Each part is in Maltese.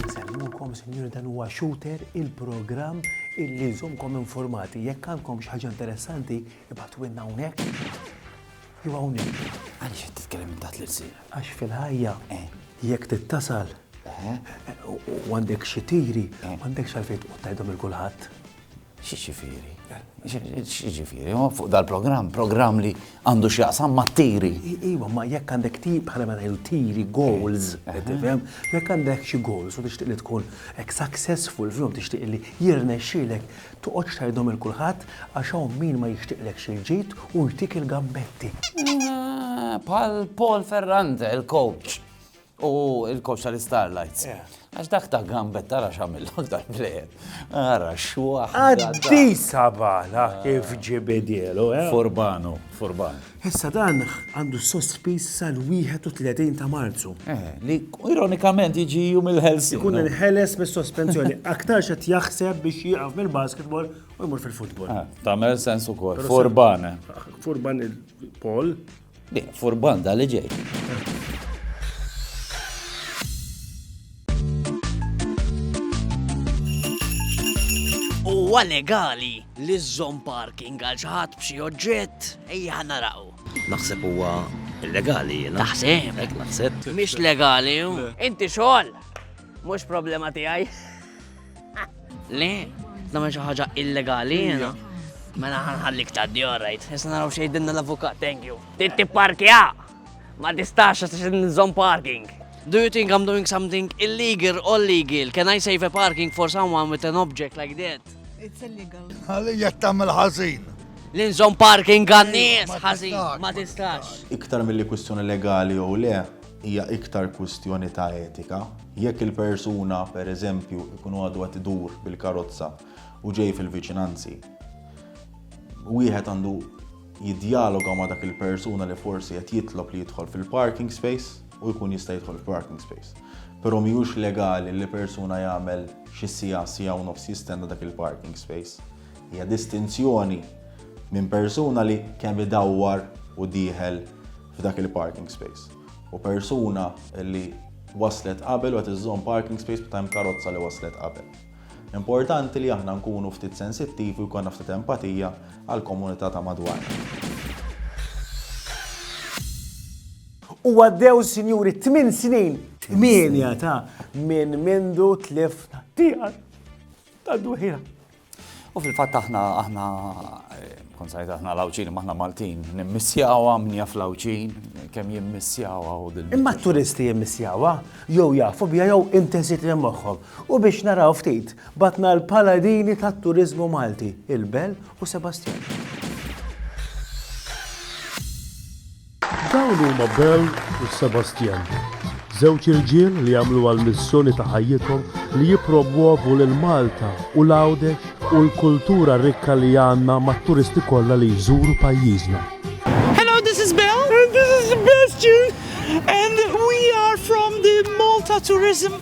Nsemmukom, sinjuri, dan huwa Shooter, il-programm illi jżomkom informati. Jekk għandkom xi ħaġa interessanti, ibgħatu għinna hawnhekk. Jew hawnhekk. Għaliex qed titkellem minn taħt l-irsil? Għax fil-ħajja jekk trid tasal u għandek xi tiri, m'għandekx għalfejn tqgħod tgħidhom lil kulħadd. X'jiġifieri? X'jiġifieri? Huwa fuq dal-programm, programm li għandu x'jaqsam mat-tiri. Iva, ma jekk għandek tiri bħala ma ngħidu tiri goals, tifhem? Jekk għandek xi goals u tixtieq li tkun hekk successful fihom tixtieq li jirnexxielek, Toqgħodx tgħidhom 'il kulħadd għax hawn min ma jixtiqlekx il-ġid u jtik il-gambetti. Bħal Paul Ferrante, il-coach. U il-coach tal-Starlights. Għax dak ta' gambet tara xamil aktar plejer. Ara xwaħ. Għaddi sabala kif ġibidielu, eh? Furbanu, furbanu. Issa dan għandu sospiż sal-31 ta' Marzu. Li ironikament jiġi jum il-ħelsien. Ikun inħeles mis-sospensjoni. Aktarx qed jaħseb biex jieqaf mill-basketball u jmur fil-futbol. Tagħmel sens ukoll. Furban. Furban il-Paul. Furban da li ġej. Huwa legali li żżomm parking għal xi ħadd b'xi oġġett ejja naraw. Naħseb huwa illegali jiena. Naħseb. Hekk naħseb. Mhix legali. Inti xogħol. Mhux problema tiegħi. Le, nagħmel xi ħaġa illegali jiena. Mela ħanħallik ta' djorajt. Issa naraw xejdinna l-avukat, thank you. Titti parkja! Ma tistax għax nżomm parking. Do you think I'm doing something illegal or legal? Can I save a parking for someone with an object like that? It's illegal. Għalija tamil ħażin. L-inżom parking għannis ħażin, ma tistax. Iktar mill-li kwistjoni legali jew le, hija iktar kwistjoni ta' etika. Jekk il-persuna, per eżempju, ikun għadu għat idur bil-karozza u ġej fil-viċinanzi, wieħed għandu jiddjaloga ma' dak il-persuna li forsi qed jitlob li jidħol fil-parking space u jkun jista' jidħol f'parking space. Però mhijiex legali li persuna jagħmel xi siegħa, siegħa u nofs jistenna dak il-parking space. Hija distinzjoni minn persuna li kemm idawwar u dieħel f'dak il-parking space u persuna li waslet qabel u qed iżżomm parking space meta hemm karozza li waslet qabel. Importanti li aħna nkunu ftit sensittivi u jkollna ftit empatija għall-komunità ta' madwarna. U għaddew, sinjuri, tmien snin, tmienja ta' minn mindu tlifna tiegħek ta' duħira. U fil-fatt aħna aħna kon sajt aħna l-Awċin, maħna Maltin, nimmissjawa mnija fl-Awċin, kemm jimmissjawa u din. Imma t-turisti jimmissjawa, jew jafu bija jew intensitri moħħom. U biex naraw ftit, bagħatna l-paladini tat-turiżmu Malti, il-Bell u Sebastjan. Dawn huma Bell u Sebastjan, żewġ irġiel li għamluha l-missjoni ta' ħajjithom li jippromwovu lil Malta u l-Għawdex u l-kultura rikka li għandna mat-turisti kollha li jżuru pajjiżna. Hello, this is Bell. And this is Sebastjan. And we are from the Malta Tourism.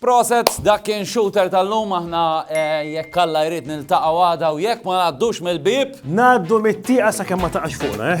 Proset, dak kien Shooter tal-lum, aħna jekk Alla jrid niltaqgħu għada u jekk ma ngħaddux mill-bieb. Ngħaddu mit-tieqa sakemm ma taqax fuqna, eh?